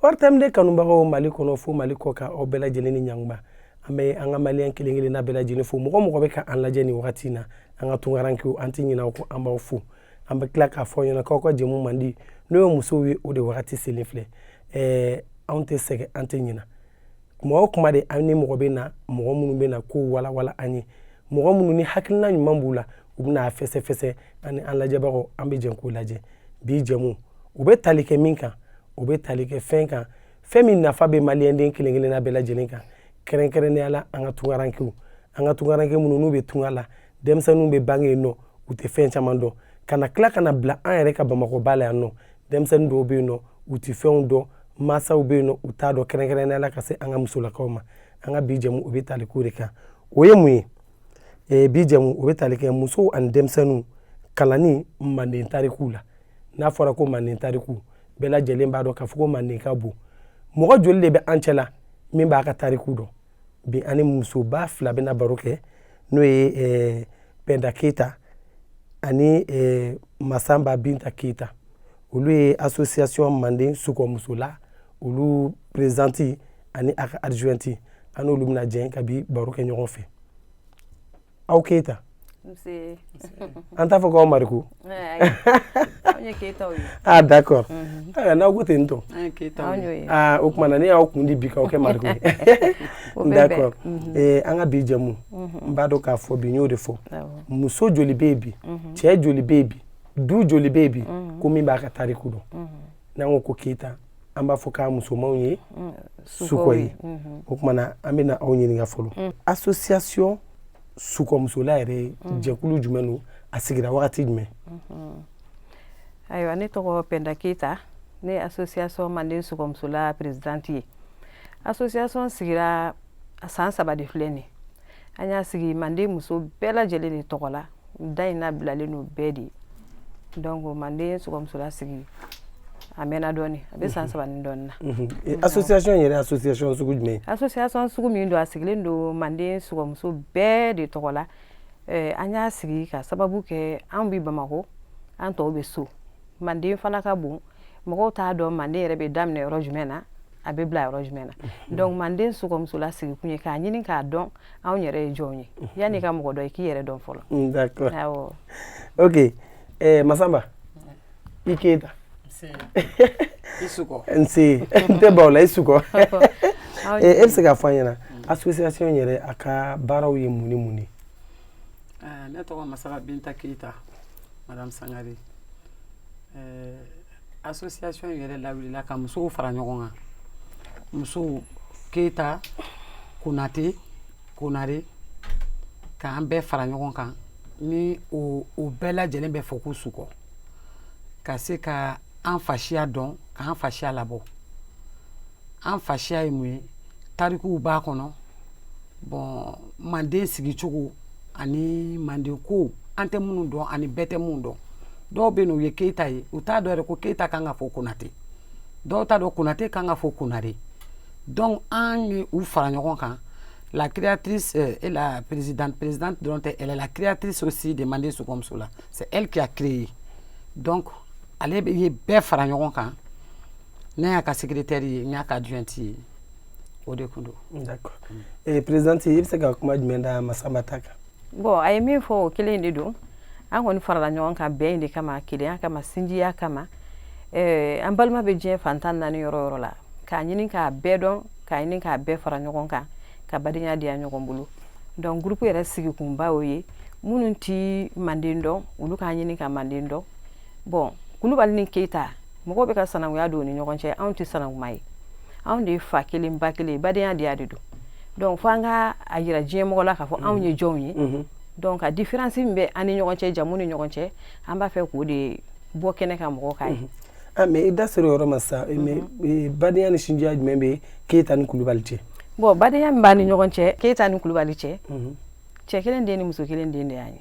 ortm deux kanubagaw mali kɔnɔ fo mali kɔkan aw bɛɛ lajɛlen ni ɲanguba an bɛ an ka maliyɛn kelen kelenna bɛɛ lajɛlen fo mɔgɔ mɔgɔ bɛ ka an lajɛ nin wagati na an ka tunkarankew an tɛ ɲina aw kɔ an b'aw fo an bɛ tila k'a fɔ ɲɛna k'aw ka jɛmu mandi n'o ye musow ye o de wagati selen filɛ ɛɛ anw tɛ sɛgɛn an tɛ ɲina kuma o kuma de an ni mɔgɔ bɛ na mɔgɔ minnu bɛ na ko walawala an ye mɔgɔ minnu ni hakilina ɲuman b'u la u bɛna a fɛsɛfɛsɛ ani an lajɛbagaw an bɛ jɛn k'u lajɛ bi jɛmu u bɛ tali kɛ min kan u bɛ tali kɛ fɛn kan fɛn min nafa bɛ maliyɛnden kelen kelenna bɛɛ lajɛlen kan kɛrɛnkɛrɛnnenya la an ka tunkarankew an ka tunkaranke minnu n'u bɛ tunga la denmisɛnninw bɛ bange yen nɔ u tɛ fɛn caman dɔn ka na tila ka na bila an yɛrɛ ka bamakɔba la yan nɔ denmisɛnnin dɔw bɛ yen nɔ u tɛ fɛnw dɔn mansaw bɛ yen nɔ u t'a dɔn kɛrɛnkɛrɛnnenya la ka se an ka musolakaw ma an ka bi jɛmu o bɛ tali k'o de kan o ye mun ye ee bi jɛmu o bɛ tali kɛ musow ani denmisɛnninw kalanni manden tarikuw la n'a fɔra ko manden tariku bɛɛ lajɛlen b'a dɔn k'a fɔ ko manden ka bon mɔgɔ joli de bɛ an cɛ la min b'a ka tariku dɔn bi ani musoba fila bɛna baro kɛ n'o ye eh, pɛnda keyita ani eh, masanba binta keyita olu ye association manden sukɔmusola olu présidente ani a ka adjointe an n'olu bɛna jɛn ka bi baro kɛ ɲɔgɔn fɛ aw keyita an t'a fɔ k'aw mariko ah d'accord n'aw ko ten n tɔ o tuma na ne y'aw kun di bi k'aw kɛ mariko ye d'accord mhm. an ka bi jɛmu mhm. n b'a dɔn k'a fɔ bi n y'o de fɔ muso joli bɛ yen bi mhm. cɛ joli bɛ yen bi du joli bɛ yen bi ko min b'a ka tariku dɔn n'an ko ko keyita an b'a fɔ k'a musomanw ye mm, sukɔ ye mm-hmm. o tuma na an bɛna aw ɲininka fɔlɔ mm. association sukɔmusola yɛrɛ mm. jɛkulu jumɛn don a sigira wagati jumɛn mm-hmm. ayiwa ne tɔgɔ pɛnda keyita ne ye association manden sukɔmusola présidente ye association sigira san saba de filɛ nin ye an y'a sigi manden muso bɛɛ lajɛlen de tɔgɔ la da in nabilalen n'o bɛɛ de donc manden sukɔmusola sigi a mɛnna dɔɔni a bɛ san mhm. saba ni dɔɔni na mhm. eh, association yɛrɛ association sugu jumɛn association sugu min don a sigilen don manden sukɔmuso bɛɛ de tɔgɔ la eh, an y'a sigi ka sababu kɛ an bɛ bamakɔ an tɔw bɛ so manden fana ka bon mɔgɔw t'a dɔn manden yɛrɛ bɛ daminɛ yɔrɔ jumɛn na a bɛ bila yɔrɔ jumɛn na mhm. donc manden sukɔmusola sigikun ye k'a ɲini k'a dɔn anw yɛrɛ ye jɔnw ye mhm. yanni ka mɔgɔ dɔn i k'i yɛrɛ dɔn fɔlɔ mm, d'accord awɔ ok eh, masaba i keyita i sukɔ nse n tɛ baw la i sukɔ e bɛ se k'a fɔ an ɲɛna association yɛrɛ a ka baaraw ye mun ni mun ye Eh, ne tɔgɔ masaba binta keyita madame sangare eh, association yɛrɛ lawulila ka musow fara ɲɔgɔn kan musow keyita konate konare k'an bɛɛ fara ɲɔgɔn kan ni o o bɛɛ lajɛlen bɛ fɔ ko sukɔ ka se ka an fasiya dɔn k'an fasiya labɔ an fasiya ye mun ye tarikuw b'a kɔnɔ bon manden sigicogo ani manden kow an tɛ minnu dɔn ani bɛɛ tɛ minnu dɔn dɔw bɛ yen u ye keyita ye u t'a dɔn yɛrɛ ko keyita kan ka fɔ konate dɔw t'a dɔn konate kan ka fɔ konare donc an ye u fara ɲɔgɔn kan la créatrice euh, et la présidente présidente dɔrɔn tɛ elle est la créatrice aussi de manden sukɔmusola c'est elle qui a créé donc ale ye bɛɛ fara ɲɔgɔn kan ne y'a ka secrétaire ye n y'a ka adjointe ye o de tun don eh, présidente i bɛ se ka kuma jumɛn da masaba ta kan bon a ye min fɔ o kelen de don an kɔni farala ɲɔgɔn kan bɛn in de kama kelenya kama sinjiya kama eh, an balima bɛ diɲɛ fan tan ni naani yɔrɔ yɔrɔ la k'a ɲini k'a bɛɛ dɔn k'a ɲini k'a bɛɛ fara ɲɔgɔn kan ka badenya diya ɲɔgɔn bolo donc groupe yɛrɛ sigikunba o ye minnu ti manden dɔn olu k'a ɲini ka manden dɔn bon kulubali ni keyita mɔgɔw bɛ ka sanankuya don u ni ɲɔgɔn cɛ anw tɛ sanankuma ye anw de ye fa kelen ba kelen badenya de y'a de don donc fo an ka a jira diɲɛ mɔgɔ la k'a fɔ anw ye mm-hmm. jɔnw ye mm-hmm. donc ka différence min bɛ an ni ɲɔgɔn cɛ jamu ni ɲɔgɔn cɛ an b'a fɛ k'o de bɔ kɛnɛ kan mɔgɔw k'a ye mm-hmm. ah, mais i da sera o yɔrɔ ma sa eh, badenya ni sinjiya jumɛn bɛ keyita ni kulubali cɛ bon badenya min b'an ni ɲɔgɔn cɛ keyita ni kulubali cɛ cɛ kelen den ni muso kelen den de y'a ye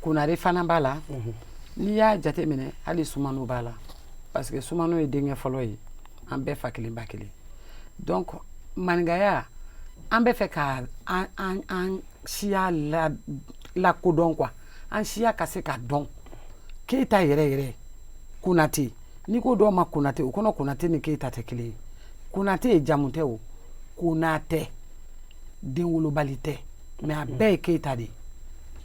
Konare fana b'a la n'i y'a jate minɛ hali sumano b'a la parce que sumano ye denkɛ fɔlɔ ye an bɛɛ fa kelen ba kelen donc maninkaya an bɛ fɛ ka an siya lakodɔn quoi an siya ka se ka dɔn keyita yɛrɛ yɛrɛ konate n'i ko dɔw ma konate u kɔnɔ konate ni keyita tɛ kelen ye konate ye jamu tɛ o konatɛ den wolobali tɛ mais a bɛɛ ye keyita de ye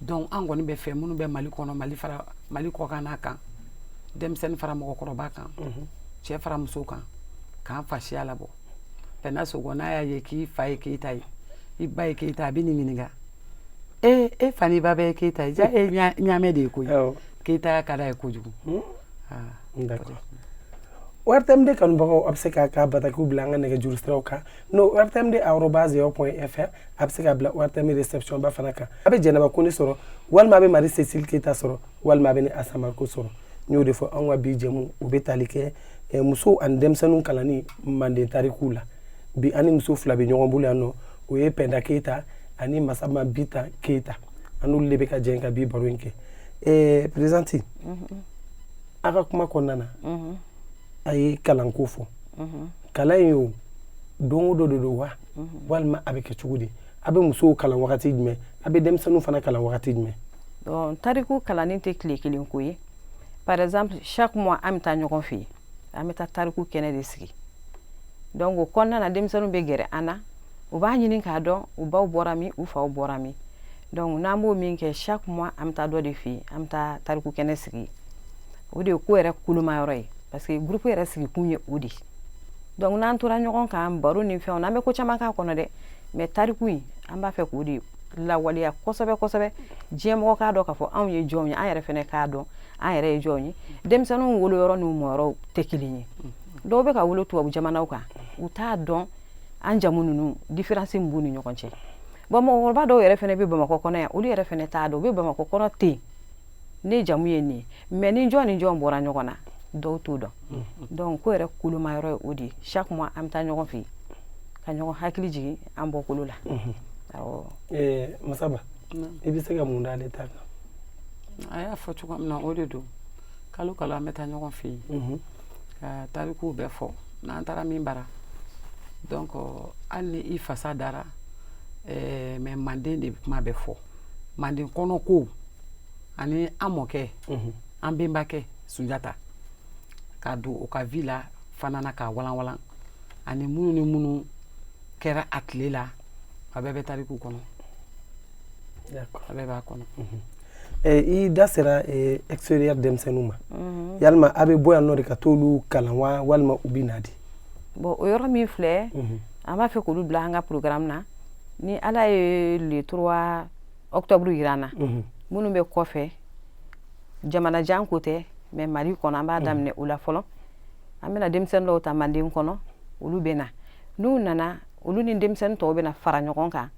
donc an kɔni b'a fɛ minnu bɛ mali kɔnɔ mali fara mali kɔkan na kan denmisɛnnin fara mɔgɔkɔrɔba kan mhm. cɛ fara muso kan k'an fasiya labɔ pɛna sogɔ n'a y'a ye k'i fa ye keyita ye i ba ye keyita a bɛ nin ɲininka e e fa ni ba bɛɛ ye keyita ye ja e ɲaamɛ de ye koyi keyitaya ka d'a ye kojugu hmm? d'accord rtmd kanubagaw a bɛ se k'a ka batakiw bila an ka nɛgɛjuru siraw kan n'o rtmd arobase yahoo point fr a bɛ se k'a bila rtm réception ba fana kan a bɛ jɛnɛba kɔnɛ sɔrɔ walima a bɛ marie cécile keyita sɔrɔ walima a bɛ ne asa mariko sɔrɔ n y'o de fɔ anw ka bi jɛmu u bɛ tali kɛ eh, musow ani denmisɛnninw kalanni manden tarikuw la bi an ni muso fila bɛ ɲɔgɔn bolo yan n'o ye pɛnda keyita ani masama binta keyita an n'olu de bɛ ka jɛ ka bi baro in kɛ eh, présidente mhm. a ka kuma kɔnɔna na mhm. a ye kalanko fɔ kalan in yo don o don de don wa walima a bɛ kɛ cogo di a bɛ musow kalan wagati jumɛn a bɛ denmisɛnninw fana kalan wagati jumɛn donc tariku kalanni tɛ tile kelen ko ye par exemple chaque mois an bɛ taa ɲɔgɔn fɛ yen an bɛ taa tariku kɛnɛ de sigi donc o kɔnɔna na denmisɛnninw bɛ gɛrɛ an na u b'a ɲini k'a dɔn u baw bɔra min u faw bɔra min donc n'an b'o min kɛ chaque mois an bɛ taa dɔ de fɛ yen an bɛ taa tariku kɛnɛ sigi o de ye ko yɛrɛ kolomayɔrɔ ye parce que groupe yɛrɛ sigikun ye o de donc n'an tora ɲɔgɔn kan baro ni fɛnw an bɛ ko caman k'a kɔnɔ dɛ mais tariku in an b'a fɛ k'o de lawaleya kosɛbɛ kosɛbɛ diɲɛmɔgɔ k'a dɔn k'a fɔ anw ye jɔn ye an yɛrɛ fɛnɛ k'a dɔn an yɛrɛ ye jɔn ye denmisɛnninw woloyɔrɔ n'u mɔyɔrɔ tɛ kelen ye dɔw bɛ ka wolo tubabu jamanaw kan u t'a dɔn an jamu ninnu différence min b'u ni ɲɔgɔn cɛ Bon mɔgɔkɔrɔba dɔw yɛrɛ fɛnɛ bɛ bamakɔ kɔnɔ yan olu yɛrɛ fɛnɛ t'a dɔn u bɛ bamakɔ kɔnɔ ten ne jamu ye nin mais ni jɔn ni jɔn bɔra ɲɔgɔn na dɔw t'o dɔn donc ko yɛrɛ kolomayɔrɔ ye o de chaque mois an bɛ taa ɲɔgɔn fɛ yen ka ɲɔgɔn hakili jigin an bɔkolo la masaba i bɛ se ka mun d'ale ta kan a y'a fɔ cogo min na o de don kalo kalo an bɛ taa ɲɔgɔn fɛ yen ka tarikuw bɛɛ fɔ n'an taara min bara donc hali ni i fasa dara eh, mais manden de kuma bɛ fɔ manden kɔnɔ ko ani an mɔkɛ an benbakɛ sunjata ka don o ka vie la fana na k'a walanwalan ani minnu ni minnu kɛra a tile la a bɛɛ bɛ tariku kɔnɔ a bɛɛ b'a kɔnɔ i da sera extérieur denmisɛnninw ma yalima a bɛ bɔ yan nɔ de ka t'olu kalan wa walima u bɛ na de bon o yɔrɔ min filɛ an b'a fɛ k'olu bila an ka programme na ni ala ye le 3 octobre yira an na minnu bɛ kɔfɛ jamana jan ko tɛ mais mali kɔnɔ an b'a daminɛ o la fɔlɔ an bɛna denmisɛnnin dɔw ta manden kɔnɔ olu bɛ na n'u nana olu ni denmisɛnnin tɔw bɛna fara ɲɔgɔn kan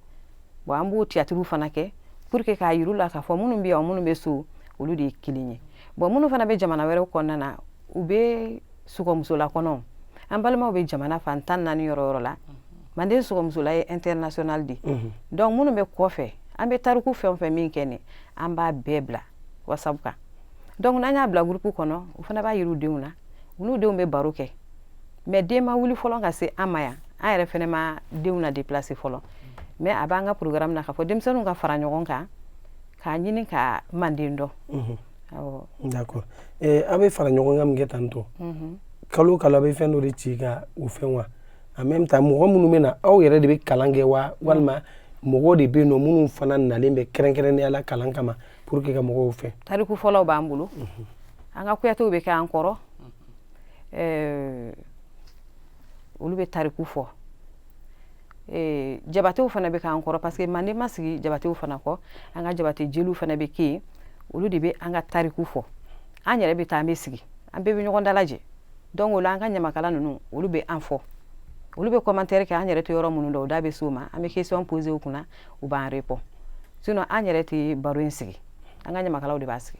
bon an b'o tiyatiriw fana kɛ pour que k'a yir'u la k'a fɔ minnu bɛ yan minnu bɛ so olu de ye kelen ye bon minnu fana bɛ jamana wɛrɛw kɔnɔna na u bɛ sɔgɔmusola kɔnɔ an balimaw bɛ jamana fan tan naani yɔrɔ yɔrɔ la manden sɔgɔmusola ye international de ye mhm. donc minnu bɛ kɔfɛ an bɛ tariku fɛn o fɛn min kɛ nin an b'a bɛɛ bila whatsapp kan donc n'an y'a bila groupe kɔnɔ u fana b'a yir'u denw na u n'u denw bɛ baro kɛ mais den ma wuli fɔlɔ ka se an ma yan an yɛrɛ fana ma denw na déplacer fɔlɔ mais a b'an ka programme na k'a fɔ denmisɛnninw ka fara ɲɔgɔn kan k'a ɲini ka manden dɔn d'accord eh, a bɛ fara ɲɔgɔn kan min kɛ tan tɔ mhm. kalo o kalo a bɛ fɛn dɔ de ci ka o fɛn wa en même temps mɔgɔ minnu bɛ na aw yɛrɛ de bɛ kalan kɛ wa walima mɔgɔw de bɛ yen nɔ minnu fana nalen bɛ kɛrɛnkɛrɛnnenya la kalan kama pour que ka mɔgɔw fɛ tariku fɔlɔw b'an bolo mhm. an ka kuyatew bɛ kɛ an kɔrɔ ɛɛ olu bɛ tariku fɔ ee jabatew fana bɛ k'an kɔrɔ parce que manden ma sigi jabatew fana kɔ an ka jabate jeliw fana bɛ kɛ yen olu de bɛ an ka tariku fɔ an yɛrɛ bɛ taa an bɛ sigi an bɛɛ bɛ ɲɔgɔn dalajɛ donc o la an ka ɲamakala ninnu olu bɛ an fɔ olu bɛ commentaire kɛ an yɛrɛ tɛ yɔrɔ minnu dɔn o da bɛ s'o ma an bɛ question poser u kunna u b'an répond sinon an yɛrɛ tɛ baro in sigi an ka ɲamakalaw de b'a sigi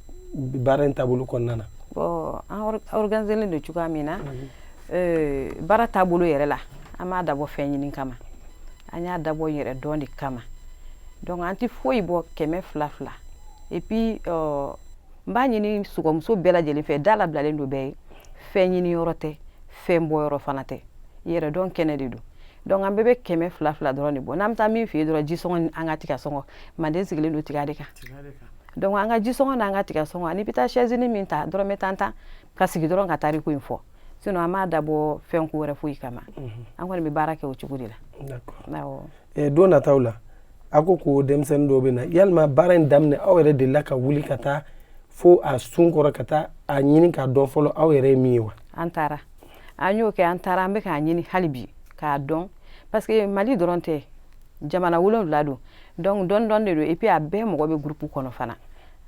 baara in taabolo kɔnɔna na bon an organiselen don cogoya min na mhm. eh, baara taabolo yɛrɛ la an m'a dabɔ fɛn ɲini kama an y'a dabɔ yɛrɛdɔn de kama donc an tɛ foyi bɔ kɛmɛ fila fila et puis euh, n b'a ɲini sɔgɔmuso bɛɛ lajɛlen fɛ da labilalen don bɛɛ ye fɛn ɲini yɔrɔ tɛ fɛn bɔ yɔrɔ fana tɛ yɛrɛdɔn kɛnɛ de don donc an bɛɛ bɛ kɛmɛ fila fila dɔrɔn de bɔ n'an bɛ taa min fɛ yen dɔrɔn jisɔngɔ ni an ka tigasɔngɔ manden sigilen don tiga de kan donc an ka jisɔngɔ n'an ka tigasɔngɔ an'i bɛ taa sɛzinin min ta dɔrɔmɛ tan tan ka sigi dɔrɔn ka tariku in fɔ sinon an m'a dabɔ fɛn ko wɛrɛ foyi kama an kɔni bɛ baara kɛ o cogo de la eh, don nataw la a ko ko denmisɛnnin dɔw bɛ na yalima baara in daminɛ aw yɛrɛ delila ka wuli ka taa fo a sun kɔrɔ ka taa a ɲini k'a dɔn fɔlɔ aw yɛrɛ ye min ye wa an taara an y'o kɛ an taara an bɛ k'a ɲini hali bi k'a dɔn parce que mali dɔrɔn tɛ jamana wolonwula don donc dɔɔni dɔɔni de don et puis a bɛɛ mɔgɔ bɛ groupe kɔnɔ fana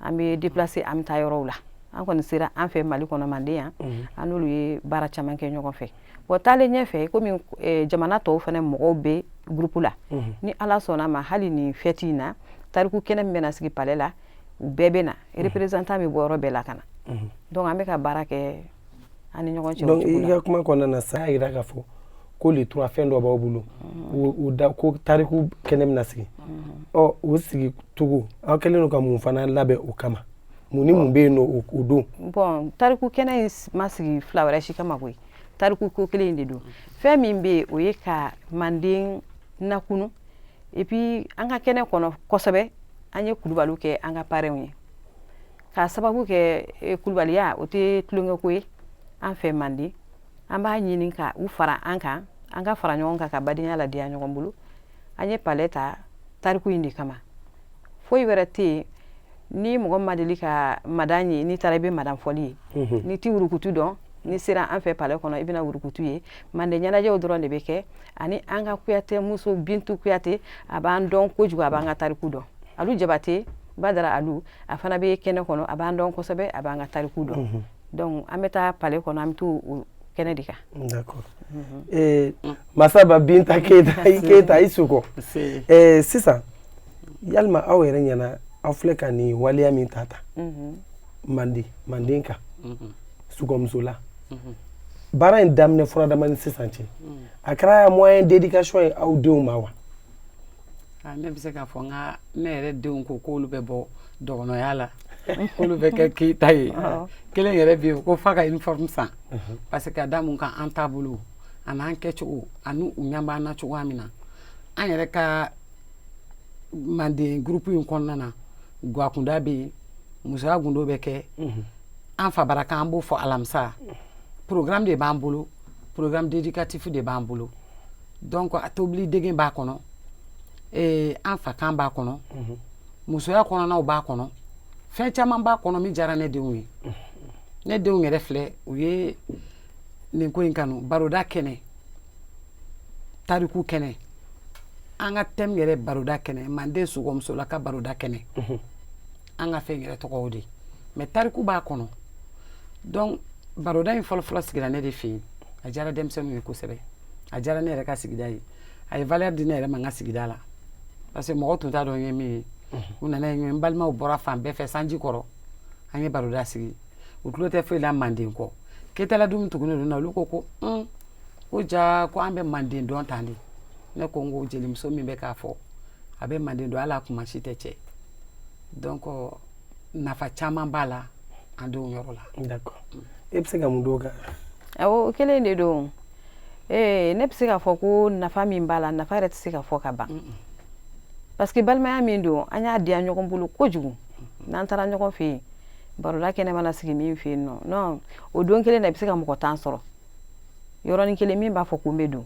an bɛ déplacer an bɛ taa yɔrɔw la an kɔni sera an fɛ mali kɔnɔ manden yan mhm. an n'olu ye baara caman kɛ ɲɔgɔn fɛ bon taalen ɲɛfɛ komi eh, jamana tɔw fana mɔgɔw bɛ groupe la mhm. ni ala sɔnna ma hali nin fête in na tariku kɛnɛ min bɛna sigi palais la u bɛɛ bɛ na mhm. représentant bɛ bɔ yɔrɔ bɛɛ la ka na donc an bɛ ka baara kɛ an ni ɲɔgɔn cɛ donc i ka kuma kɔnɔna na sa y'a jira k'a fɔ ko le trois fɛn dɔ b'aw bolo u da ko tariku kɛnɛ bɛna sigi ɔ o sigi cogo aw kɛlen don ka mun fana labɛn o kama mun ni mun bɛ yen nɔ o don bon tariku kɛnɛ in ma sigi fila wɛrɛ si kama koyi tariku ko kelen de don fɛn min bɛ yen o ye ka manden nakunu et puis an ka kɛnɛ kɔnɔ kosɛbɛ an ye kulubaliw kɛ an ka parrainw ye k'a sababu kɛ eh, kulubaliya o tɛ tulonkɛko ye an fɛ manden an b'a ɲini ka u fara an kan an ka fara ɲɔgɔn kan ka badenya ladiya ɲɔgɔn bolo an ye palais ta tariku in de kama foyi wɛrɛ tɛ yen ni mɔgɔ ma deli ka madan ye n'i taara i bɛ madan fɔli ye mhm. n'i tɛ wurukutu dɔn n'i sera an fɛ palais kɔnɔ i bɛna wurukutu ye manden ɲɛnajɛw dɔrɔn de bɛ kɛ ani an ka kuyatɛ muso bintu kuyatɛ a b'an dɔn kojugu a b'an ka tariku dɔn alu jabate badara alu a fana bɛ kɛnɛ kɔnɔ a b'an dɔn kosɛbɛ a b'an ka tariku dɔn mhm. donc an bɛ taa palais kɔnɔ an bɛ to o kɛnɛ de kan d'accord mhm. eh, masaba binta keyita keyita i sukɔ eh, sisan yalima aw yɛrɛ ɲɛna aw filɛ ka nin waleya min ta ta mhm. manden manden kan sukɔmusola baara in daminɛ furadama ni sisan cɛ a kɛra moyen d'éducation ye aw denw ma wa Ne bɛ se k'a fɔ n ka ne yɛrɛ denw ko k'olu bɛ bɔ dɔgɔnɔya la k'olu bɛ kɛ keyita ye kelen yɛrɛ bɛ yen ko f'a ka uniforme san parce que ka da mun kan an taabolo ani an kɛcogo ani u ɲɛ b'an na cogoya min na an yɛrɛ ka manden groupe in kɔnɔna na gwakunda bɛ yen musoya gundo bɛ kɛ an fa bara kan an b'o fɔ alamisa programme de b'an bolo programme d'éducatif de b'an bolo donc a tobili dege b'a kɔnɔ an fa kan b'a kɔnɔ musoya kɔnɔnaw b'a kɔnɔ fɛn caman b'a kɔnɔ min diyara ne denw ye ne denw yɛrɛ filɛ u ye nin ko in kanu baroda kɛnɛ tariku kɛnɛ an ka thème yɛrɛ baroda kɛnɛ manden sukɔmusola ka baroda kɛnɛ an ka fɛn yɛrɛ tɔgɔ o de mais tariku b'a kɔnɔ donc baroda in fɔlɔfɔlɔ sigira ne de fɛ yen a diyara denmisɛnninw ye kosɛbɛ a diyara ne yɛrɛ ka sigida ye a ye valeur di ne yɛrɛ ma n ka sigida la parce que mɔgɔ tun t'a dɔn n ye min ye u nana ye n balimaw bɔra fan bɛɛ fɛ sanji kɔrɔ an ye baroda sigi u tulo tɛ foyi la manden kɔ keyitala dun tugunnen don na olu ko ko un ko ja ko an bɛ manden dɔn tan de ne ko n ko jelimuso min bɛ k'a fɔ a bɛ manden dɔn hali a kuma si tɛ cɛ donc nafa caman b'a la an denw yɔrɔ la d'accord e bɛ se ka mun d'o kan awɔ o kelen de don ee ne bɛ se k'a fɔ ko nafa min b'a la nafa yɛrɛ tɛ se ka fɔ ka ban parce que balimaya min don an y'a diya ɲɔgɔn bolo kojugu n'an taara ɲɔgɔn fɛ yen baroda kɛnɛ mana sigi min fɛ yen non non o don kelen na i bɛ se ka mɔgɔ tan sɔrɔ yɔrɔnin kelen min b'a fɔ ko n bɛ don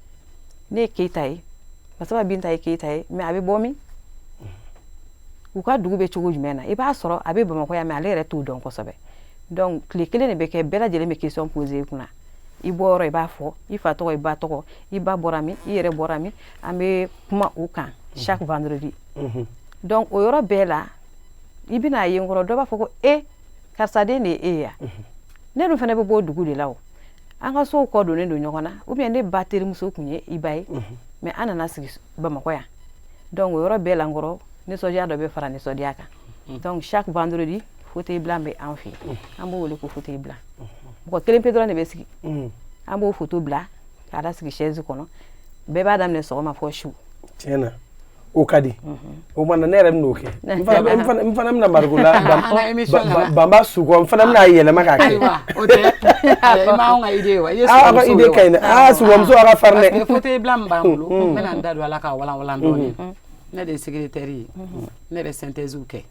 ne ye keyita ye masaba binta ye keyita ye mais a bɛ bɔ min u ka dugu bɛ cogo jumɛn na i b'a sɔrɔ a bɛ bamakɔ yan mais ale yɛrɛ t'o dɔn kosɛbɛ donc tile kelen de bɛ kɛ bɛɛ lajɛlen bɛ question poser i kunna i bɔ yɔrɔ i b'a fɔ i fa tɔgɔ i ba tɔgɔ i ba bɔra min i yɛrɛ bɔra min an bɛ kuma o kan chaque vendredi donc o yɔrɔ bɛɛ la i bɛna a ye n kɔrɔ dɔ b'a fɔ ko e karisa den de ye e ye ya mhm. ne dun fana bɛ bɔ dugu de la o an ka sow kɔ donnen don ɲɔgɔn na ou bien ne ba terimuso tun ye i ba ye mhm. mais an nana sigi bamakɔ yan donc o yɔrɔ bɛɛ la n kɔrɔ nisɔndiya dɔ bɛ fara nisɔndiya kan mhm. donc chaque vendredi fauteuil blanc bɛ an fɛ yen an b'o wele ko fauteuil blanc mɔgɔ kelen pe dɔrɔn de bɛ sigi an b'o foto bila k'a da sigi chaise kɔnɔ bɛɛ b'a daminɛ sɔgɔma fo su tiɲɛ na o ka di o mana ne yɛrɛ bɛn'o kɛ n fana bɛna mariko la banba su n fana bɛna yɛlɛma k'a kɛ idée ka ɲi aa subaamuso a ka farin dɛ fauteuil blanc min b'an bolo n bɛna da don a la k'a walanwalan dɔɔni ne de ye secrétaire ye ne bɛ synthèses kɛ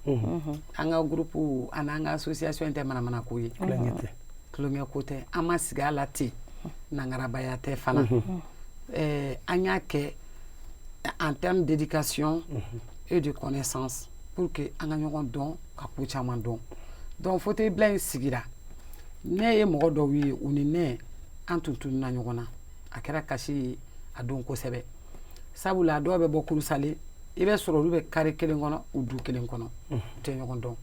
an ka groupe ani an ka association tɛ manamana ko ye tulonkɛ ko tɛ an ma sigi a la ten nangarabaya tɛ fana an y'a kɛ en termes d'éducation mhm. et de connaissance pour que an ka ɲɔgɔn dɔn ka ko caman dɔn donc fauteuil blanc in sigira ne ye mɔgɔ dɔw ye u ni ne an tun tununa ɲɔgɔn na a kɛra kasi ye a don kosɛbɛ sabula dɔw bɛ bɔ kurusale i bɛ sɔrɔ olu bɛ carré kelen kɔnɔ u du kelen kɔnɔ mhm. u tɛ ɲɔgɔn dɔn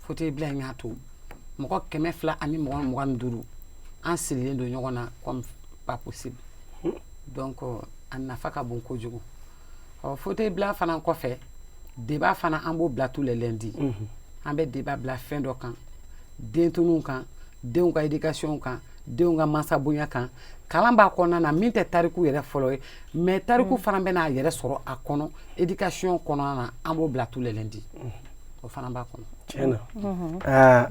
fauteuil blanc in y'a to mɔgɔ kɛmɛ fila ani mɔgɔ mugan ni duuru an sirilen don ɲɔgɔn na comme pas possible donc a nafa ka bon kojugu ɔ fauteuil blanc fana kɔfɛ débat fana an b'o bila tous les lundis mhm. an bɛ débat bila fɛn dɔ kan dentununw kan denw ka éducation kan denw ka mansabonya kan kalan b'a kɔnɔna na min tɛ tariku yɛrɛ fɔlɔ ye mais tariku mhm. fana bɛna a yɛrɛ sɔrɔ a kɔnɔ éducation kɔnɔna na an b'o bila tous les lundis mhm. o fana b'a kɔnɔ tiɲɛ na mhm. aa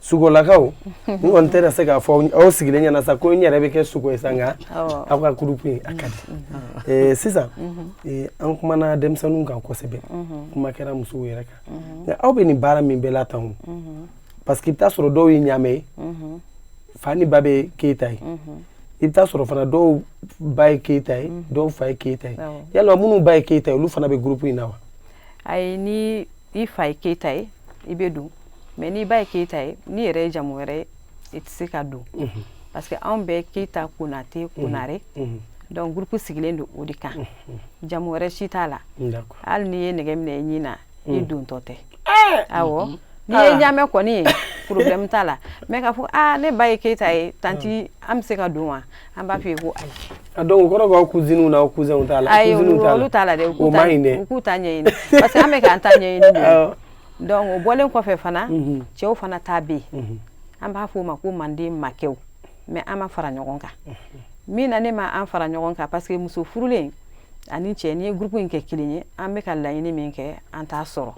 sugolakaw n kɔni tɛ se k'a fɔ aw sigilen ɲɛna sa ko n yɛrɛ bɛ kɛ sugo ye sa nka aw ka groupe in a ka di mhm. Mhm. Eh, sisan eh, an kumana denmisɛnninw kan kosɛbɛ kuma kɛra musow yɛrɛ kan nka aw bɛ nin baara min bɛɛ la tan o parce que i bɛ taa sɔrɔ dɔw ye ɲaamɛ ye fa ni ba bɛ keyita ye i bɛ taa sɔrɔ fana dɔw ba ye keyita ye dɔw fa ye keyita ye yalima minnu ba ye keyita ye olu fana bɛ groupe in na wa ayi ni i fa ye keyita ye i bɛ don mais n'i ba ye keyita ye n'i yɛrɛ ye jamu wɛrɛ ye i tɛ se ka don mhm. parce que anw bɛɛ keyita konate mhm. konare mhm. donc groupe sigilen don o de kan jamu wɛrɛ si t'a la hali n'i ye nɛgɛ minɛ i ɲin na i dontɔ tɛ eh! awɔ n'i ye ah. ɲaamɛ kɔni ye problème t'a la mais k'a fɔ aa ah, ne ba ye keyita ye tanti an bɛ se ka don wa An b'a fɔ ko ayi donc o kɔrɔ k'aw cousines n'aw cousins t'a la ayi olu t'a la dɛ u k'u ta ɲɛɲini parce que an bɛ k'an ta ɲɛɲini donc o bɔlen kɔfɛ fana cɛw fana ta bɛ yen an b'a fɔ o ma ko manden makɛw mais an ma fara ɲɔgɔn kan min na ne ma an fara ɲɔgɔn kan parce que muso furulen ani cɛ n'i ye groupe in kɛ kelen ye an bɛ ka laɲini min kɛ an t'a sɔrɔ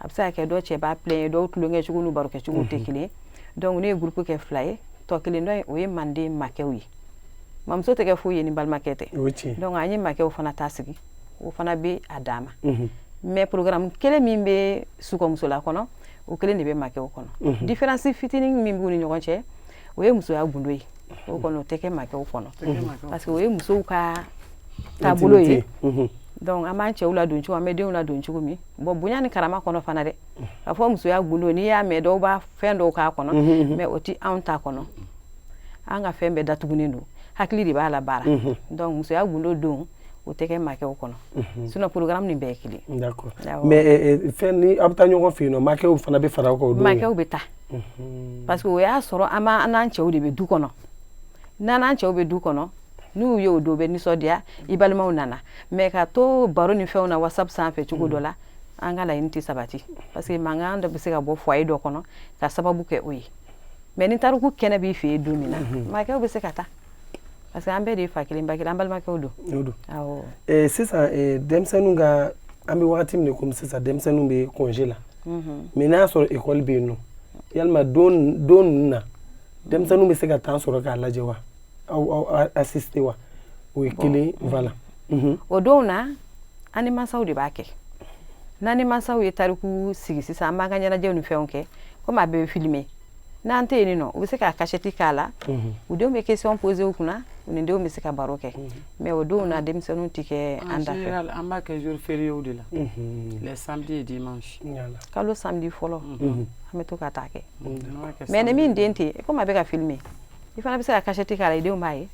a bɛ se ka kɛ dɔ cɛ b'a ye dɔw tulonkɛ cogo n'u barokɛ cogo tɛ kelen donc ne ye groupe kɛ fila ye tɔ kelen dɔ in o ye manden makɛw ye mamuso tɛ kɛ foyi ye ni balimakɛ tɛ donc an ye makɛw fana ta sigi o fana bɛ a dan ma mais programme kelen min bɛ sukɔmusola kɔnɔ o kelen de bɛ makɛw kɔnɔ différence fitinin min b'u ni ɲɔgɔn cɛ o ye musoya gundo ye o kɔnɔ o tɛ kɛ makɛw kɔnɔ parce que o ye musow ka taabolo ye donc an b'an cɛw ladon cogo an bɛ denw ladon cogo min bon bonya ni karama kɔnɔ fana dɛ a fɔ musoya gundo n'i y'a mɛn dɔw bɛ fɛn dɔw k'a kɔnɔ mais o tɛ anw ta kɔnɔ an ka fɛn bɛɛ datugunen don hakili de b'a la baara donc musoya gundo don o tɛ kɛ makɛw kɔnɔ sinon programme nin bɛɛ ye kelen mais fɛn ni aw bɛ taa ɲɔgɔn fɛ yen nɔ makɛw fana bɛ fara aw kan o don makɛw bɛ taa parce que o y'a sɔrɔ an n'an cɛw de bɛ du kɔnɔ n'an cɛw bɛ du kɔnɔ n'u ye o don bɛ nisɔndiya i balimaw nana mais ka to baro ni fɛnw na whatsapp sanfɛ cogo dɔ la an ka laɲini tɛ sabati parce que mankan dɔ bɛ se ka bɔ foyer dɔ kɔnɔ ka sababu kɛ o ye mais ni tariku kɛnɛ b'i fɛ yen don min na mhm. makɛw bɛ se ka taa parce que an bɛɛ de ye fa kelen ba kelen an balimakɛw don o don awɔ eh, sisan eh, denmisɛnninw ka an bɛ wagati min na komi sisan denmisɛnninw bɛ congé la mhm. mais n'a y'a sɔrɔ école bɛ yen nɔ yalima don don ninnu na denmisɛnninw bɛ se ka temps sɔrɔ k'a lajɛ wa aw assister wa o ye kelen la o don na an ni mansaw de b'a kɛ n'an ni mansaw ye tariku sigi sisan an b'an ka ɲɛnajɛw ni fɛnw kɛ komi a bɛ filmer n'an tɛ yen nɔ u bɛ se k'a kasɛti k'a la u denw bɛ question poser u kunna u ni denw bɛ se ka baro kɛ mais o denw na denmisɛnninw tɛ kɛ an da fɛ an b'a kɛ jour fériéw de la samedi dimanche kalo samedi fɔlɔ an bɛ to ka taa kɛ mais ni min den tɛ yen komi a bɛ ka filmer i fana bɛ se ka kasɛti k'a la i denw b'a ye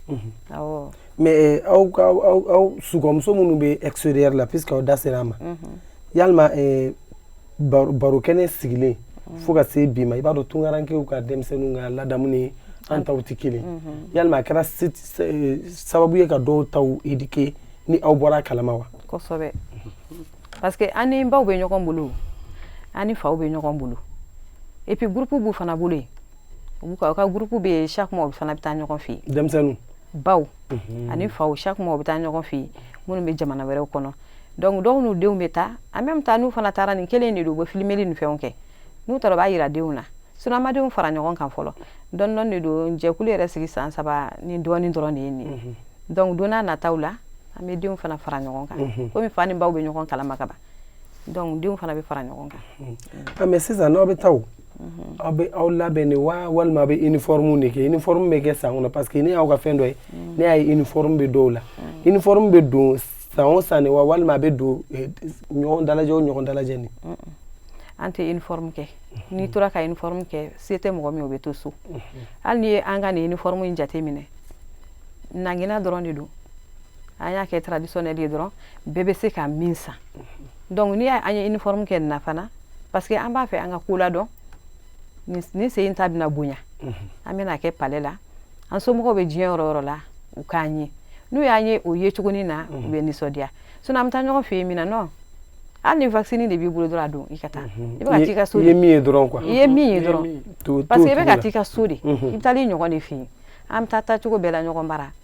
awɔ mais aw ka aw somɔgɔ minnu bɛ extérieur la puisque aw da sera a ma yalima baro kɛnɛ sigilen fo ka se bi ma i b'a dɔn tunkarankew ka denmisɛnninw ka ladamu ni an taw tɛ kelen yalima a kɛra sababu ye ka dɔw taw éduquer ni aw bɔra a kalama wa kosɛbɛ parce que an ni baw bɛ ɲɔgɔn bolo an ni faw bɛ ɲɔgɔn bolo et puis groupe b'u fana bolo yen u ka ka groupe bɛ chaque mois u fana bɛ taa ɲɔgɔn fɛ yen denmisɛnninw baw mhm. ani faw chaque mois u bɛ taa ɲɔgɔn fɛ yen minnu bɛ jamana wɛrɛw kɔnɔ donc dɔw n'u denw bɛ taa en même temps n'u fana taara nin kelen de don u bɛ filmeli ni fɛnw kɛ n'u taara u b'a yira denw na sinon an ma denw fara ɲɔgɔn kan fɔlɔ dɔɔni dɔɔni de don jɛkulu yɛrɛ sigi san saba ni dɔɔni dɔrɔn de ye nin ye mhm. donc don nataw la an bɛ denw fana fara ɲɔgɔn kan mhm. komi fa ni baw bɛ ɲɔgɔn kalama ka ban donc denw fana bɛ fara ɲɔgɔn kan ah, mais sisan n'aw bɛ taa Mhm. aw bɛ aw labɛn de wa walima a bɛ uniforme de kɛ uniforme bɛ kɛ san kɔnɔ parce que ne y'aw ka fɛn dɔ ye mhm. ne y'a ye uniforme bɛ dɔw la mhm. uniforme bɛ don san o san de wa walima a bɛ don eh, ɲɔgɔn dalajɛ o ɲɔgɔn dalajɛ nin an tɛ uniforme kɛ n'i tora ka uniforme kɛ se tɛ mɔgɔ min o bɛ to so hali n'i ye an ka nin uniforme in jate minɛ nangina dɔrɔn de don an y'a kɛ traditionnel ye dɔrɔn bɛɛ bɛ se ka min san donc n'i y'an ye uniforme kɛ nin na fana parce que an b'a fɛ an ka ko ladɔn nin sen in ta bɛna bonya mhm. an bɛna kɛ palais la an somɔgɔw bɛ diɲɛ yɔrɔ o yɔrɔ la u k'an ye n'u y'an ye o ye cogonin na u mhm. bɛ nisɔndiya sinon an bɛ taa ɲɔgɔn fɛ yen min na non hali ni waxinin de b'i bolo dɔrɔn a don i ka taa mhm. i bɛ ka t'i ka so de i ye min ye dɔrɔn quoi i ye min ye dɔrɔn parce que i bɛ ka t'i ka so de i bɛ taa i ɲɔgɔn de fɛ yen an bɛ taa taa cogo bɛɛ la ɲɔgɔn bara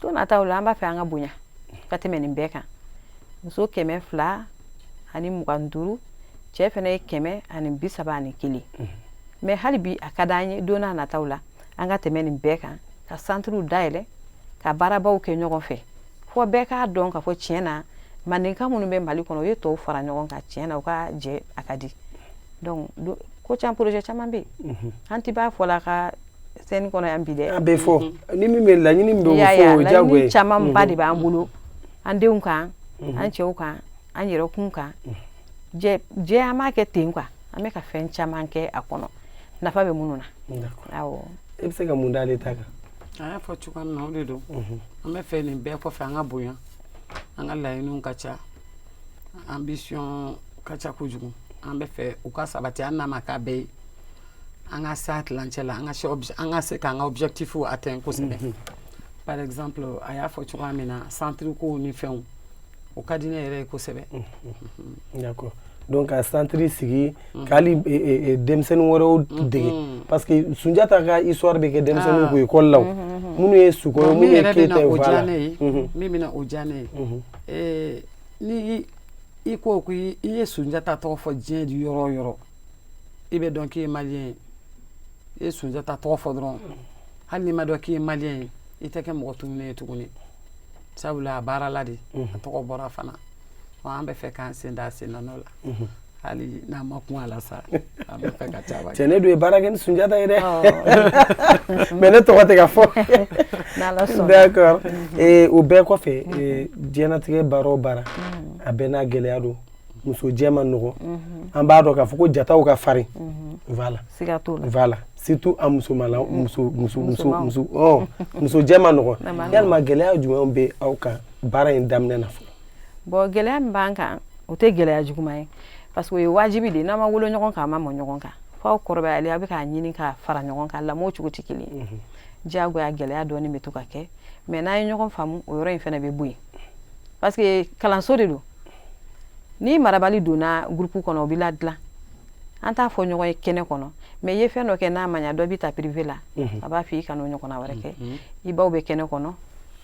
don nataw la an b'a fɛ an ka bonya ka tɛmɛ nin bɛɛ kan muso kɛmɛ fila ani mugan duuru cɛ fana ye kɛmɛ ani bi saba ani kelen mhm. mais hali bi a ka d'an ye don nataw la an ka tɛmɛ nin bɛɛ kan ka centrew dayɛlɛ ka baarabaw kɛ ɲɔgɔn fɛ fo bɛɛ k'a dɔn ka fɔ tiɲɛ na mandenka minnu bɛ mali kɔnɔ u ye tɔw fara ɲɔgɔn kan tiɲɛ na u ka jɛ a ka di donc ko caman projet caman bɛ yen mhm. an ti b'a fɔ la ka scène kɔnɔ yan bi dɛ a bɛ fɔ ni min bɛ laɲini min bɛ fɔ o ye jago ye camanba de b'an bolo an denw kan an cɛw kan an yɛrɛkun kan jɛ an b'a kɛ ten quoi an bɛ ka fɛn caman kɛ a kɔnɔ nafa bɛ minnu na awɔ e bɛ se ka mun d'ale ta kan a y'a fɔ cogoya min na o de don an bɛ fɛ nin bɛɛ kɔfɛ an ka bonya an ka laɲiniw ka ca ambition ka ca kojugu an bɛ fɛ u ka sabati hali n'a ma k'a bɛɛ ye an ka s'a tilancɛ la an ka an ka se k'an ka objectif atteindre kosɛbɛ mhm. par exemple a y'a fɔ cogoya min na centre kow ni fɛnw o ka di ne yɛrɛ ye kosɛbɛ mhm. mhm. d'accord donc ka centre sigi k'ali e, e, e, denmisɛnnin wɛrɛw dege parce que sunjata ka histoire bɛ kɛ denmisɛnninw ah. kun école la o minnu ye suko ye minnu ye keyita ye voilà min bɛna o diya ne ye ni i ko ko i ye sunjata tɔgɔ fɔ diɲɛ yɔrɔ o yɔrɔ i bɛ dɔn k'i ye maliyɛn ye i ye sunjata tɔgɔ fɔ dɔrɔn hali n'i ma dɔn k'i ye maliyɛn ye i tɛ kɛ mɔgɔ tununnen ye tuguni sabula a baarala de a tɔgɔ bɔra fana an bɛ fɛ k'an sen da a sen nɔ la hali n'an ma kun a la sa an bɛ fɛ ka caman cɛ ne dun ye baara kɛ ni sunjata ye dɛ mais ne tɔgɔ tɛ ka fɔ d'accord o bɛɛ kɔfɛ diɲɛnatigɛ baara o baara a bɛɛ n'a gɛlɛya don musojɛ man nɔgɔ an b'a dɔn k'a fɔ ko jataw ka farin voilà surtout a musojɛ man nɔgɔ yalima gɛlɛya jumɛn bɛ aw kan baara in daminɛ na fɔlɔ bon gɛlɛya min b'an kan o tɛ gɛlɛya juguman ye parce que o ye wajibi de n'a ma wolo ɲɔgɔn kan a ma mɔ ɲɔgɔn kan f'aw kɔrɔbayalen a bɛ k'a ɲini ka fara ɲɔgɔn kan lamɔ cogo tɛ kelen ye diyagoya gɛlɛya dɔɔnin bɛ to ka kɛ mais n'an ye ɲɔgɔn faamu o yɔrɔ in fana bɛ bɔ yen parce que kalanso de don ni marabali donna groupe kɔnɔ o bɛ ladilan an t'a fɔ ɲɔgɔn ye kɛnɛ kɔnɔ mais i ye fɛn dɔ kɛ n'a ma ɲa dɔ b'i ta privé la mhm. a b'a fɔ i kan'o ɲɔgɔnna wɛrɛ kɛ mhm. i baw bɛ kɛnɛ kɔnɔ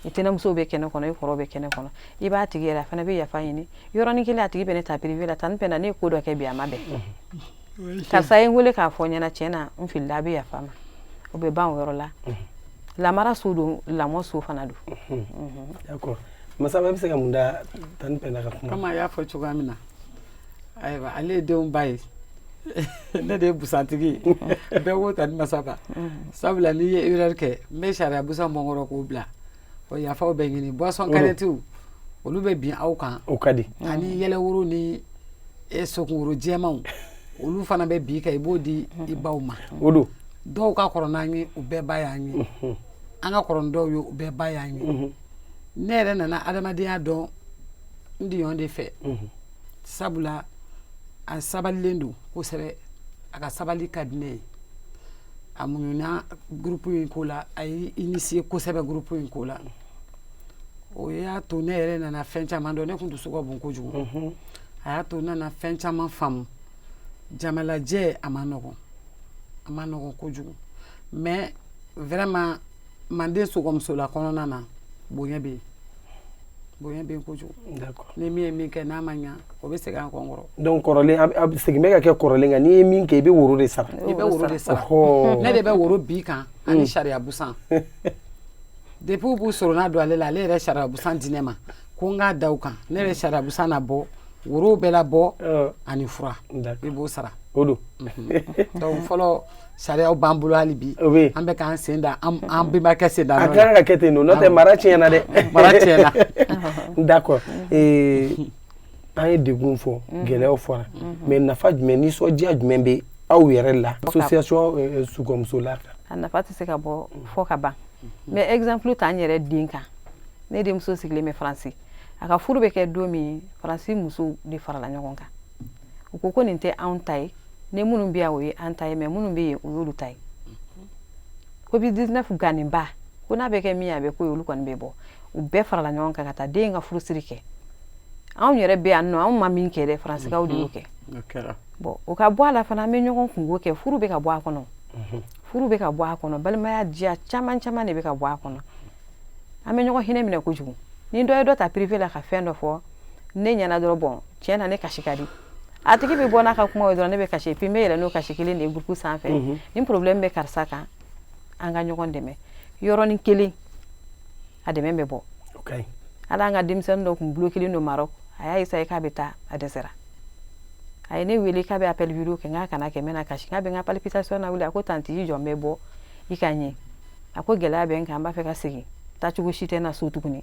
i tɛnɛnmuso bɛ kɛnɛ kɔnɔ i kɔrɔ bɛ kɛnɛ kɔnɔ i b'a tigi yɛrɛ a fana bɛ yafa ɲini yɔrɔnin kelen a tigi bɛ ne ta privé la tanti pɛnda ne ko dɔ kɛ bi a ma bɛn mhm. karisa ye n wele k'a fɔ n ɲɛna tiɲɛ na n filila a bɛ yafa n ma o bɛ ban o yɔrɔ la lamara so don lamɔ so fana don masa bɛ se ka mun da tanti pɛnda ka kuma kan a y'a fɔ cogoya min na ayiwa ale ye denw ba ye ne de ye busantigi ye bɛɛ ko tanti masaba mm. sabula n'i ye erreur kɛ n bɛ sariya busan mɔnkɔrɔ k'o bila o yafaw bɛ ɲini boisson kanɛtiw mm. olu bɛ bin aw kan o ka di ani yɛlɛworo ni e sokunkuru jɛmanw olu fana bɛ bin i kan i b'o di i baw ma o don dɔw ka kɔrɔ n'an ye u bɛɛ ba y'an ye mm-hmm. an ka kɔrɔ ni dɔw ye u bɛɛ ba y'an ye mm-hmm. ne yɛrɛ nana adamadenya dɔn n diɲɔgɔn de fɛ sabula a sabalilen don kosɛbɛ a ka sabali ka di ne ye a muɲuna groupe in ko la a ye initier kosɛbɛ groupe in ko la o y'a to ne yɛrɛ nana fɛn caman dɔn ne tun dusu ka bon kojugu a y'a to n nana fɛn caman faamu jamalajɛ a man nɔgɔn a man nɔgɔn kojugu mais vraiment manden sogɔmusola kɔnɔna na bonya bɛ yen bonya bɛ yen kojugu ni min ye min kɛ n'a ma ɲa o bɛ segin an kɔnkɔrɔ donc kɔrɔlen a bɛ segin bɛ ka kɛ kɔrɔlen kan n'i ye min kɛ i bɛ woro de sara i bɛ woro de sara ne de bɛ woro bin i kan ani sariya busan depuis u b'u sorona don ale la ale yɛrɛ sariya busan di ne ma ko n k'a da u kan ne yɛrɛ sariya busan na bɔ worow bɛɛ labɔ ani fura i b'o sara o don donc fɔlɔ Sariyaw b'an bolo hali bi an bɛ k'an sen da an bɛnbakɛ sen da a kan ka kɛ ten n'o tɛ mara tiɲɛna dɛ mara tiɲɛna d'accord an ye degun fɔ gɛlɛyaw fɔra mais nafa jumɛn nisɔndiya jumɛn bɛ aw yɛrɛ la association sogɔmusola a nafa tɛ se ka bɔ fɔ ka ban mais exemple ta n yɛrɛ den kan ne denmuso sigilen bɛ faransi a ka furu bɛ kɛ don min faransi musow de farala ɲɔgɔn kan u ko ko nin tɛ anw ta ye ni minnu bɛ yan o ye an ta ye mais minnu bɛ yen o y'olu ta ye covid 19 gannenba ko n'a bɛ kɛ min a bɛ ko olu kɔni bɛ bɔ u bɛɛ farala ɲɔgɔn kan ka taa den ka furusiri kɛ anw yɛrɛ bɛ yan nɔ anw ma min kɛ dɛ faransikaw de y'o kɛ bon o ka bɔ a la fana an bɛ ɲɔgɔn kunko kɛ furu bɛ ka bɔ a kɔnɔ furu bɛ ka bɔ a kɔnɔ balimaya diya caman caman de bɛ ka bɔ a kɔnɔ an bɛ ɲɔgɔn hinɛ minɛ kojugu ni dɔ ye dɔ ta privé la ka fɛn dɔ fɔ ne ɲɛna dɔrɔn bon tiɲɛ na ne kasi ka di a tigi bɛ bɔ n'a ka kuma ye dɔrɔn ne bɛ kasi puis n bɛ yɛlɛ n'o kasi kelen de ye groupe sanfɛ mhm. ni problème bɛ karisa kan an ka ɲɔgɔn dɛmɛ yɔrɔnin kelen a dɛmɛ bɛ bɔ a la an ka denmisɛnnin dɔ tun bloquelen don Maroc a y'a essayé k'a bɛ taa a dɛsɛra a ye ne wele k'a bɛ appel vidéo kɛ n k'a kana kɛ n bɛna kasi k'a bɛ n ka palpitation na wuli a ko tanti i jɔ n bɛ bɔ i ka ɲɛ a ko gɛlɛya bɛ n kan n b'a fɛ ka segin taacogo si tɛ n na so tuguni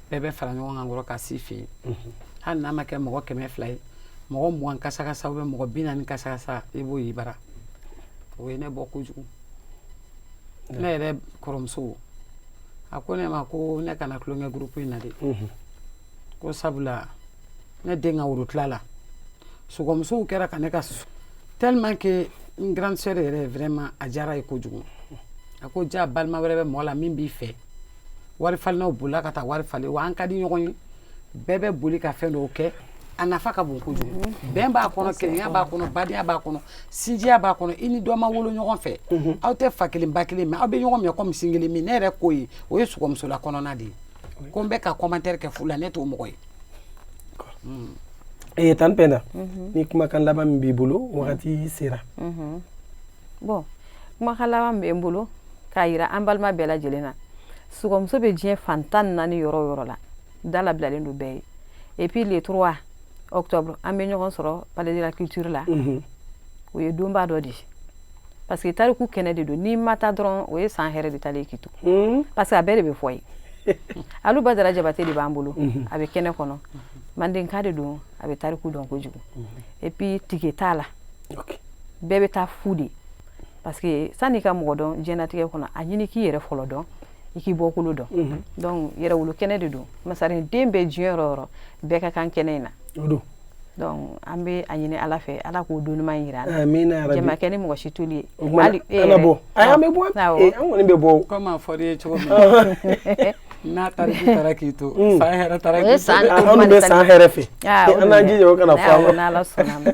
bɛɛ bɛ fara ɲɔgɔn kan kɔrɔ ka s'i fɛ yen hali n'a ma kɛ mɔgɔ kɛmɛ fila ye mɔgɔ mugan kasakasa ou bien mɔgɔ bi naani kasakasa i b'o y'i bara o ye ne bɔ kojugu ne yɛrɛ kɔrɔmuso a ko ne ma ko ne kana tulonkɛ groupe in na dɛ ko sabula ne den ka worotila la sogɔmusow kɛra ka ne ka tellement que n grande sœur yɛrɛ vraiment a diyara a ye kojugu a ko ja balima wɛrɛ bɛ mɔgɔ la min b'i fɛ wari falennaw bolila ka taa wari falen wa an ka di ɲɔgɔn ye bɛɛ bɛ boli ka fɛn dɔw kɛ a nafa ka bon kojugu mhm. bɛn b'a kɔnɔ kelenya b'a kɔnɔ badenya b'a kɔnɔ sinjiya b'a kɔnɔ i ni dɔ ma wolo ɲɔgɔn fɛ mhm. aw tɛ fa kelen ba kelen mais aw bɛ ɲɔgɔn minɛ kɔmi sin kelen min ne yɛrɛ ko ye o ye sukɔmusola kɔnɔna de ye ko n bɛ ka commentaire kɛ fu la ne t'o mɔgɔ ye mm. eh, tan pɛnda mhm. ni kumakan laban min b'i bolo wagati sera bon kumakan laban bɛ n bolo k'a yira an balima bɛɛ lajɛlen na sukɔmuso bɛ diɲɛ fan tan ni naani yɔrɔ o yɔrɔ la da labilalen don bɛɛ ye epi le trois octobre an bɛ ɲɔgɔn sɔrɔ palais de la culture la mhm. o ye donba dɔ de ye parce que tariku kɛnɛ de don n'i ma taa dɔrɔn o ye san hɛrɛ de taalen k'i to mhm. parce que a bɛɛ de bɛ fɔ yen alu badara jabate de b'an bolo mhm. a bɛ kɛnɛ kɔnɔ mandenka de don a bɛ tariku dɔn kojugu epi tike t'a la bɛɛ bɛ taa fu de parce que san'i ka mɔgɔ dɔn diɲɛnatigɛ kɔnɔ a ɲini k'i yɛrɛ fɔlɔ dɔn i k'i bɔkolo dɔn mhm. donc yɛrɛwolo kɛnɛ de don masaren den bɛɛ diɲɛ yɔrɔ o yɔrɔ bɛɛ ka kan kɛnɛ in na donc an bɛ a ɲini ala fɛ ala k'o don ɲuman yira an na jama kɛ ni mɔgɔ si toli ye hali e yɛrɛ bɔ an bɛ bɔ an kɔni bɛ bɔ komi a fɔra i ye cogo min N'a tariku taara k'i to mm. san hɛrɛ taara k'i to anw bɛ san hɛrɛ fɛ ah, an n'an jija o kana fɔ an ma n'ala sɔnna ma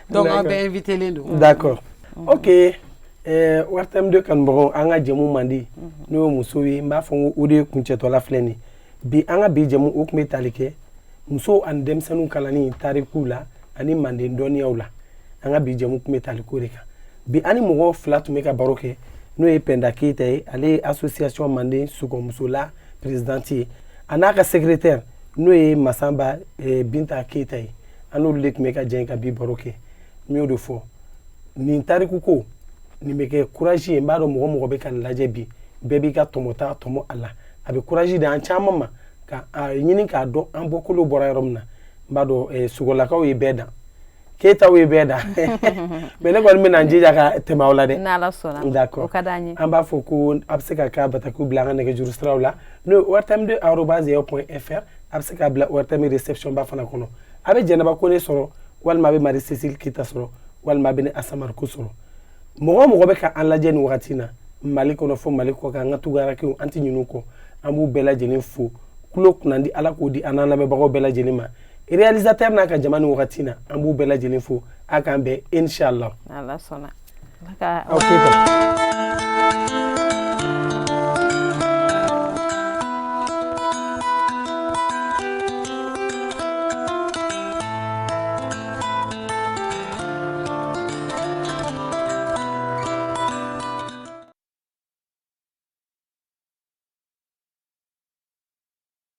donc an bɛɛ invitelen don d'accord mm. ok eh, ORTM deux kanubagaw an ka jɛmu mandi mm-hmm. n'o ye musow ye n b'a fɔ ko o de ye kuncɛtɔla filɛ nin bi an ka bi jɛmu o tun bɛ tali kɛ musow ani denmisɛnninw kalanni tarikuw la ani manden dɔnniyaw la an ka bi jɛmu tun bɛ tali k'o de kan bi an ni mɔgɔ fila tun bɛ ka baro kɛ n'o ye pɛnda keyita ye ale ye association manden sukɔmusola présidente ye a n'a ka secrétaire n'o ye masaba eh, binta keyita ye an n'olu de tun bɛ ka jɛn ka bi baro kɛ n y'o de fɔ nin tariku ko nin bɛ kɛ courage ye n b'a dɔn mɔgɔ o mɔgɔ bɛ ka nin lajɛ bi bɛɛ b'i ka tɔmɔta tɔmɔ a la a bɛ courage di an caman ma ka a ɲini k'a dɔn an bɔkolo bɔra yɔrɔ min na n b'a dɔn eh, sukɔlakaw ye bɛɛ dan keyitaw ye bɛɛ dan mais ne kɔni bɛna n jija ka tɛmɛ aw la dɛ an b'a fɔ ko a bɛ se k'a ka batakiw bila an ka nɛgɛjuru siraw la n'o ye ORTM deux arobase yahoo point fr a bɛ se k'a bila ORTM réceptionba fana kɔnɔ a bɛ jɛnɛba kɔnɛ sɔrɔ walima a bɛ marie cécile keyita sɔrɔ walima a bɛ ne asa mariko sɔrɔ mɔgɔ o mɔgɔ bɛ ka an lajɛ nin wagati na mali kɔnɔ fo mali kɔ kan an ka tungarankew an tɛ ɲin'u kɔ an b'u bɛɛ lajɛlen fo kulo kunnandi ala k'o di an n'an lamɛnbagaw bɛɛ lajɛlen ma réalisateur n'a ka jama nin wagati na an b'u bɛɛ lajɛlen fo a k'an bɛn inshallah n'ala sɔnna aw keyita